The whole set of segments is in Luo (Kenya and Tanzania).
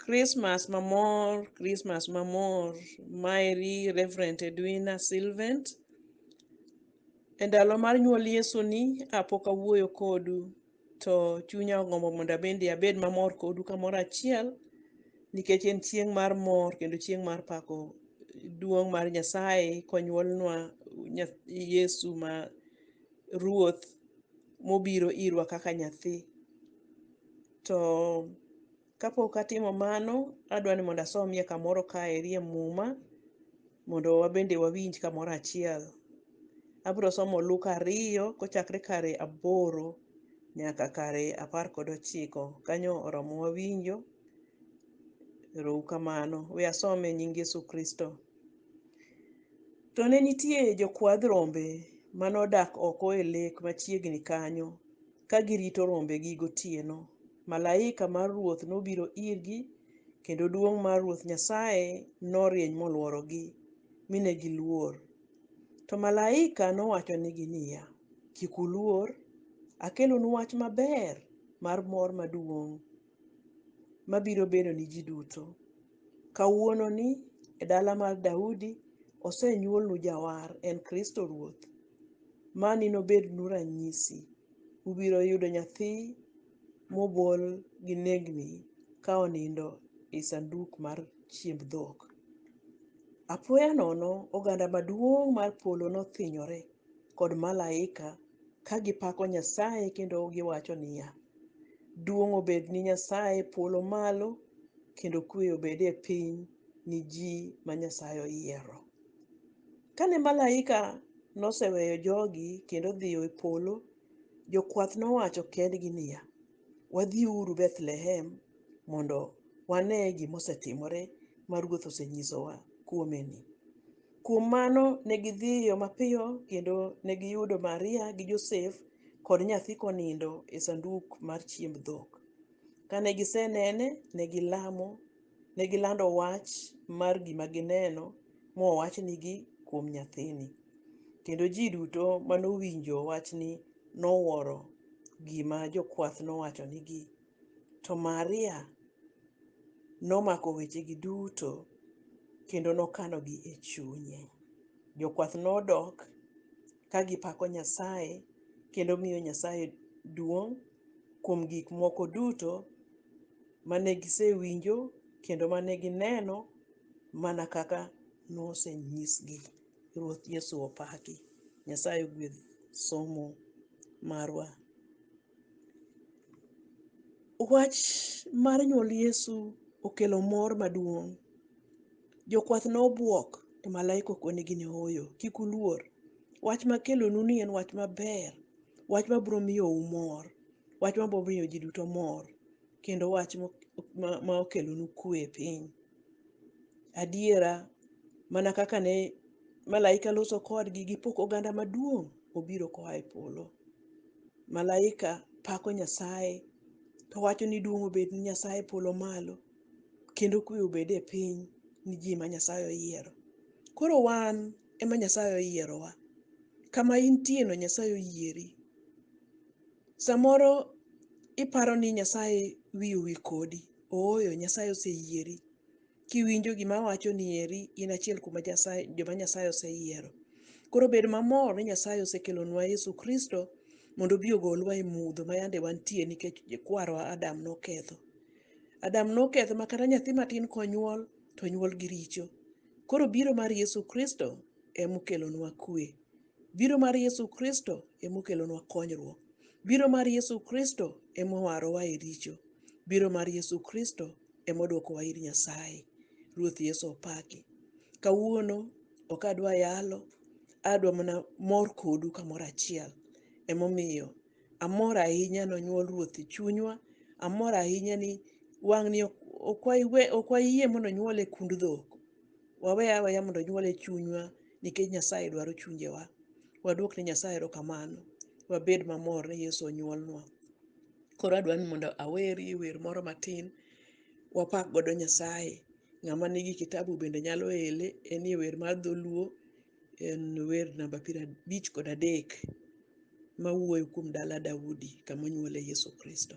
Christmas mamor, Christmas mamor. Maeri Reverend Edwina Sylvant. E ndalo mar nyuol Yesu ni apok awuoyo kodu to chunya ogombo mondo abende abed mamor kodu kamoro achiel nikech en chieng' mar mor kendo chieng' mar pako duong' mar Nyasaye konyuolnwa nya- Yesu ma Ruoth mobiro irwa kaka nyathi. To kapok atimo mano, adwa ni mondo asomie kamoro kaeri e Muma mondo wabende wawinj kamoro achiel. Abiro somo Luka ariyo kochakre kare aboro nyaka kare apar kod ochiko. Kanyo oromo wawinjo. Erou kamano. We asome e nying Yesu Kristo. To ne nitie jokwadh rombe mane odak oko e lek machiegni kanyo. ka girito rombegi gotieno, malaika mar Ruoth nobiro irgi, kendo duong' mar Ruoth Nyasaye norieny molworogi, mi ne giluor. To malaika nowachonigi niya, Kik uluor, akelonu wach maber mar mor maduong', mabiro bedo ni ji duto. Kawuononi e dala mar Daudi osenyuolnu Jawar, en Kristo Ruoth. Mani nobednu ranyisi, Ubiro yudo nyathi mobol gi nengni ka onindo e sanduk mar chiemb dhok. Apoya nono, oganda maduong' mar polo nothinyore kod malaika ka gipako Nyasaye kendo giwacho niya, Duong' obed ni Nyasaye e polo malo, kendo kuwe obed e piny ni ji ma Nyasaye oyiero. Kane malaika noseweyo jogi kendo odhiyo e polo, jokwath nowacho kendgi niya, Wadhiuru Bethlehem mondo wane gima osetimore ma Ruoth osenyisowa kuomeni. Kuom mano, ne gidhiyo mapiyo kendo ne giyudo Maria gi Josef kod nyathi konindo e sanduk mar chiemb dhok. Kane gisenene, ne gilamo, ne gilando wach mar gima gineno mowachnigi kuom nyathini, kendo ji duto manowinjo wachni nowuoro gima jokwath nowachonigi To Maria nomako wechegi duto kendo nokanogi e chunye. Jokwath nodok ka gipako Nyasaye kendo miyo Nyasaye duong' kuom gik moko duto mane gisewinjo kendo mane gineno mana kaka nosenyisgi. Ruoth Yesu opaki. Nyasaye ogwedh somo marwa. Wach mar nyuol Yesu okelo mor maduong'. Jokwath ne obwok to malaika okonegi ni ooyo, kik uluor. Wach makelonu ni en wach maber, wach mabiro miyou mor, wach mabiro miyo ji duto mor, kendo wach ma okelonu kwe e piny. Adiera mana kaka ne malaika loso kodgi gi pok oganda maduong' obiro koa e polo. Malaika pako Nyasaye to wacho ni duong' obed ni Nyasaye e polo malo kendo kwe obed e piny ni ji ma Nyasaye oyiero. Koro wan ema Nyasaye oyierowa. Kama intieno Nyasaye oyieri. Samoro iparo ni Nyasaye wiye owil kodi. Ooyo, Nyasaye oseyieri. kiwinjo gima awacho ni eri in achiel kuom Nyasaye, joma Nyasaye oseyiero. Koro bed mamor ni Nyasaye osekelonwa Yesu Kristo mondo obi ogolwa e mudho ma yande wantie nikech kwarwa Adam noketho. Adam noketho ma kata nyathi matin konyuol to onyuol gi richo. Koro biro mar Yesu Kristo emokelonwa kwe. Biro mar Yesu Kristo ema okelonwa konyruok. Biro mar Yesu Kristo ema owarowa e richo. Biro mar Yesu Kristo ema odwokowa ir Nyasaye. Ruoth Yesu opaki. Kawuono ok adwa yalo, adwa mana mor kodu kamoro achiel. Emomiyo amor ahinya nonyuol Ruoth e chunywa, amor ahinya ni wang'ni ok ok waywe- ok wayie mondo onyuol e kund dhok. Wawe aweya mondo onyuol e chunywa Nikech Nyasaye dwaro chunjewa, waduok ne Nyasaye erokamano, wabed mamor ni Yesu onyuolnwa. Koro adwa ni mondo awerie wer moro matin, wapak godo Nyasaye. Ng'ama nigi kitabu bende nyalo ele, enie wer mar dholuo, en wer namba piero abich kod adek mawuoyo kuom dala Daudi kama onyuole Yesu Kristo.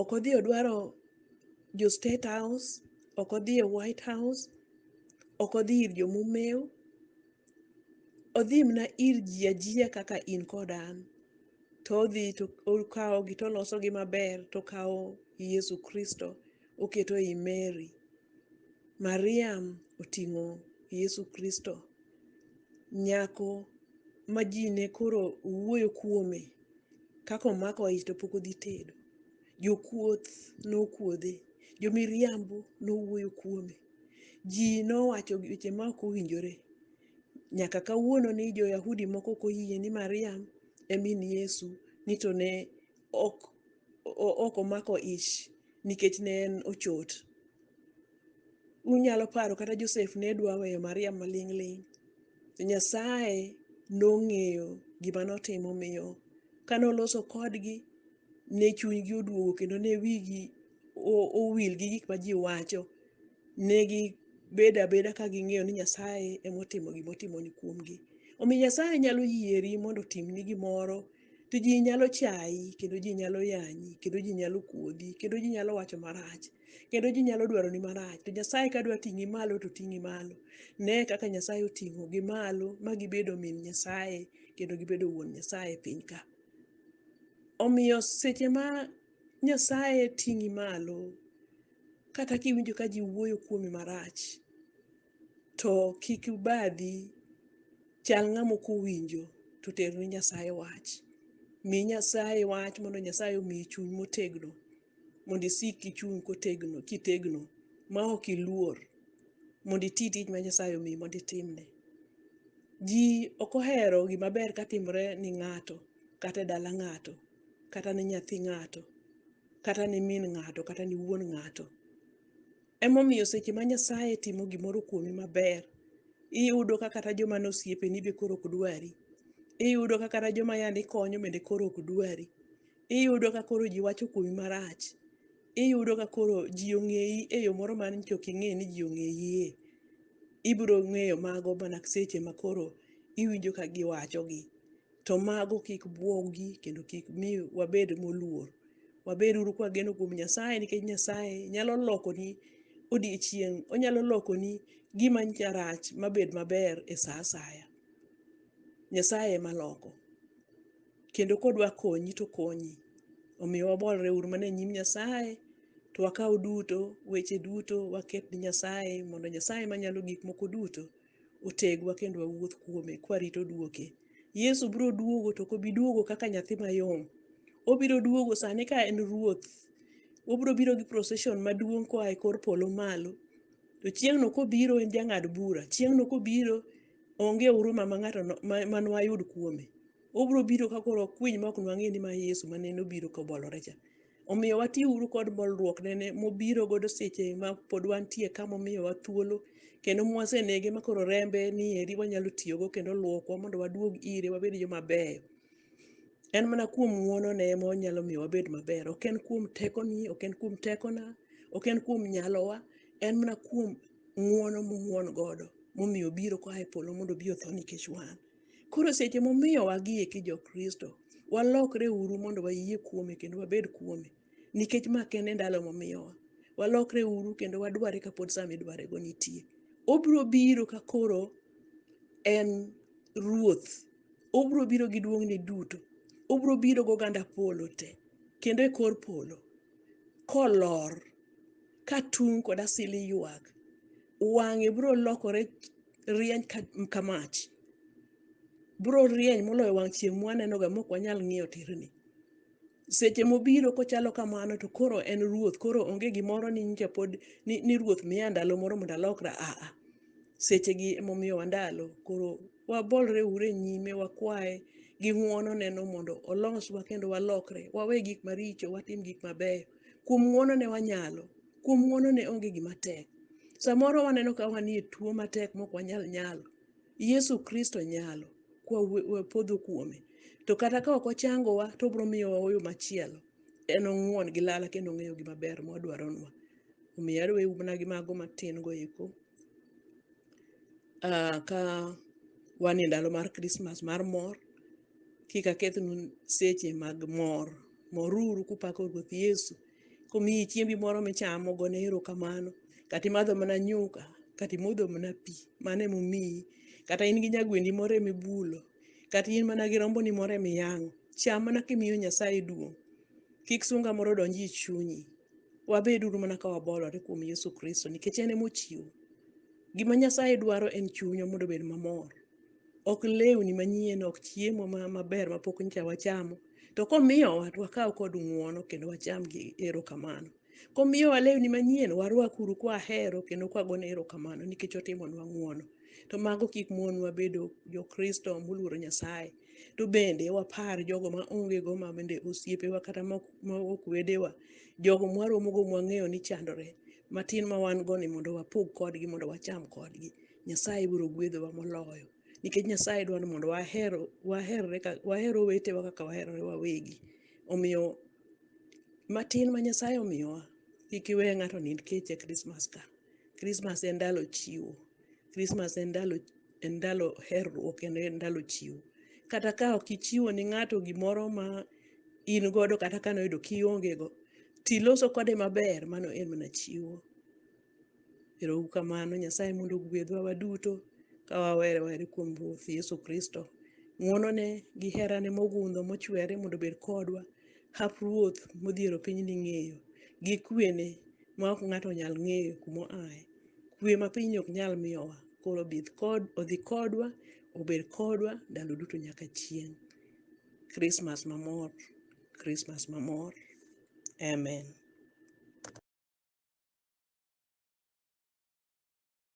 ok odhi odwaro jo state house ok odhi e white house ok odhi ir jomumeu odhi mna ir ji ajiya kaka in kod an to odhi to okawogi to olosogi maber to okawo yesu kristo oketo ei mary mariam oting'o yesu kristo nyako ma ji ne koro wuoyo kuome kaka omako ich to pok odhi tedo. Jokuoth nokuodhe, jomiriambo nowuoyo kuome. Ji nowacho weche ma ok owinjore. Nyaka kawuononi jo-Yahudi moko ok oyie ni Mariam e min Yesu ni to ne ok omako ich nikech ne en ochot. unyalo paro kata Josef ne dwa weyo Maria maling' ling'. To Nyasaye nong'eyo gima notimo miyo kane oloso kodgi ne chunygi oduogo kendo ne wigi o- owil gi gik ma ji wacho. Ne gibedo abeda ka ging'eyo ni Nyasaye emotimo gimotimo ni kuomgi. Omiyo Nyasaye nyalo yieri mondo otimni gimoro to ji nyalo chayi kendo ji nyalo yanyi kendo ji nyalo kuodhi kendo ji nyalo wacho marach kendo ji nyalo dwaroni marach to nyasaye ka dwa ting'i malo to ting'i malo ne kaka nyasaye oting'ogi malo ma gibedo min nyasaye kendo gibedo wuon nyasaye e piny ka omiyo seche ma nyasaye ting'i malo kata kiwinjo ka ji wuoyo kuomi marach To kik ubadhi, chal ng'ama ok owinjo, to ter ne Nyasaye wach. Mi Nyasaye wach mondo Nyasaye omiyi chuny motegno, mondo isik kichung' kotegno, kitegno ma ok iluor, mondo iti tich ma Nyasaye omiyi mondo itimne. Ji ok ohero gima ber ka timore ni ng'ato, kata e dala ng'ato, kata ne nyathi ng'ato, kata ne min ng'ato, kata ne wuon ng'ato. Emomiyo seche ma Nyasaye timo gimoro kuomi maber, iyudo ka kata joma ne osiepeni be koro ok dwari. Iyudo ka kata joma yande ikonyo bende koro ok dwari. Iyudo ka koro ji wacho kuomi marach. Iyudo ka koro ji ong'eyi e yo moro ma nyocha ok ing'e ni ji ong'eyiye. Ibiro ng'eyo mago mana seche ma koro iwinjo ka giwachogi. To mago kik bwogi kendo kik mi wabed moluor. Wabed uru kwageno kuom Nyasaye nikech Nyasaye nyalo lokoni odiechieng', onyalo lokoni gima rach mabed maber e sa asaya. Nyasaye ema loko. Kendo kodwa konyi to okonyi. Omiyo wabolre uru mana e nyim Nyasaye to wakaw duto, weche duto waket ne Nyasaye mondo Nyasaye manyalo gik moko duto otegwa kendo wawuoth kuome kwarito duoke. Yesu biro duogo to ok obi duogo kaka nyathi mayom. Obiro duogo sani ka en ruoth. Obiro biro gi procession maduong' koa e kor polo malo. To chieng'no kobiro en jang'ad bura. Chieng'no kobiro onge huruma ma ng'ato no- ma- ma nwayud kuome. Obiro biro ka koro okwiny ma ok nwang'e ni ma Yesu ma nene obiro kobolore cha. Omiyo wati uru kod bolruok nene mobiro godo seche ma pod wantie ka momiyowa thuolo kendo mwasenege ma koro rembe ni eri wanyalo tiyogo kendo luokwa mondo waduog ire wabed joma beyo. En mana kuom ng'wonone ema onyalo miyo wabed maber. Ok en kuom tekoni, ok en kuom tekona, ok en kuom nyalowa. En mana kuom ng'wono mong'won godo momiyo obiro koa e polo mondo obi otho nikech wan. Koro seche momiyo wagie ki jo Kristo, walokre uru mondo wayie kuome kendo wabed kuome. Nikech ma kende ndalo momiyowa. Walokre uru kendo wadware kapod sa midware go nitie. Obiro biro ka koro en ruoth. Obiro biro gi duong'ne duto. Obiro biro gi oganda polo te. Kendo e kor polo. Kolor. Ka tung' kod asili ywak. Wang'e biro lokore rieny ka, ka mach biro rieny moloyo wang' chieng' mwanenoga mok wanyal ng'iyo tirni seche mobiro kochalo kamano to koro en ruoth koro onge gimoro ni nyicha pod ni, ni ruoth miya ndalo moro mondo alokra aa sechegi emomiyowa ndalo koro wabolre ure nyime wakwaye gi ng'wono neno mondo oloswa kendo walokre wawe gik maricho watim gik mabeyo kuom ng'wono ne wanyalo Kuom ng'wono ne onge gima tek. Samoro waneno ka wanie tuo matek mok wanyal nyalo. Yesu Kristo nyalo, kwa we- we podho kuome. To kata ka ok ochangowa, to obiro miyowa oyo machielo. En ong'won gi lala kendo ong'eyo gima ber mwadwaronwa. Omiyo aduewu mana gi mago matin go eko. Ah, ka wan e ndalo mar Christmas mar mor, kik akethnu seche mag mor. Moruru kupako Ruoth Yesu Komiyi chiembi moro michamo, gone erokamano. Kata imadho mana nyuka, kata imodho mana pi, mano ema omiyi. Kata in gi nyagwendi moro ema ibulo, kata in mana gi romboni moro ema iyang'o, cham mana kimiyo Nyasaye duong'. Kik sunga moro donj e chunyi. Wabed uru mana ka wabolore kuom Yesu Kristo nikech en ema ochiwo. Gima Nyasaye dwaro en chunywa mondo obed mamor. ok lewni manyien ok chiemo ma- maber mapok nyicha wachamo to komiyowa to wakaw kod ng'uono kendo wacham gi erokamano komiyowa lewni manyien warwakuru kwahero kendo kwagone erokamano nikech otimonwa ng'uono to mago kik monwa bedo jokristo moluoro nyasaye to bende wapar jogo ma onge go ma bende osiepewa kata ma ok ma ok wedewa jogo mwaromogo mwang'eyo ni chandore matin ma wan go ni mondo wapog kodgi mondo wacham kodgi Nyasaye biro gwedhowa moloyo nikech Nyasaye dwa ni mondo waher waherre ka waher owetewa kaka waherore wawegi. Omiyo matin ma Nyasaye omiyowa kik iwe ng'ato nind kech e Krismas ka. Krismas en ndalo chiwo. Krismas en ndalo en ndalo herruok kendo en ndalo chiwo. Kata ka ok ichiwo ni ng'ato gimoro ma in godo kata kane oyudo kionge go, tiloso kode maber mano en mana chiwo. Ero uru kamano, Nyasaye mondo ogwedhwa waduto ka wawere were kuom Ruoth Yesu Kristo. Ng'wonone gi herane mogundho mochwere mondo obed kodwa, hap Ruoth modhiero piny ni ng'eyo, gi kwene ma ok ng'ato onyal ng'eyo kuma oaye. Kwe ma pinyni ok nyal miyowa, koro obith kod, odhi kodwa, obed kodwa ndalo duto nyaka chieng'. Krismas mamor, Krismas mamor. Amen.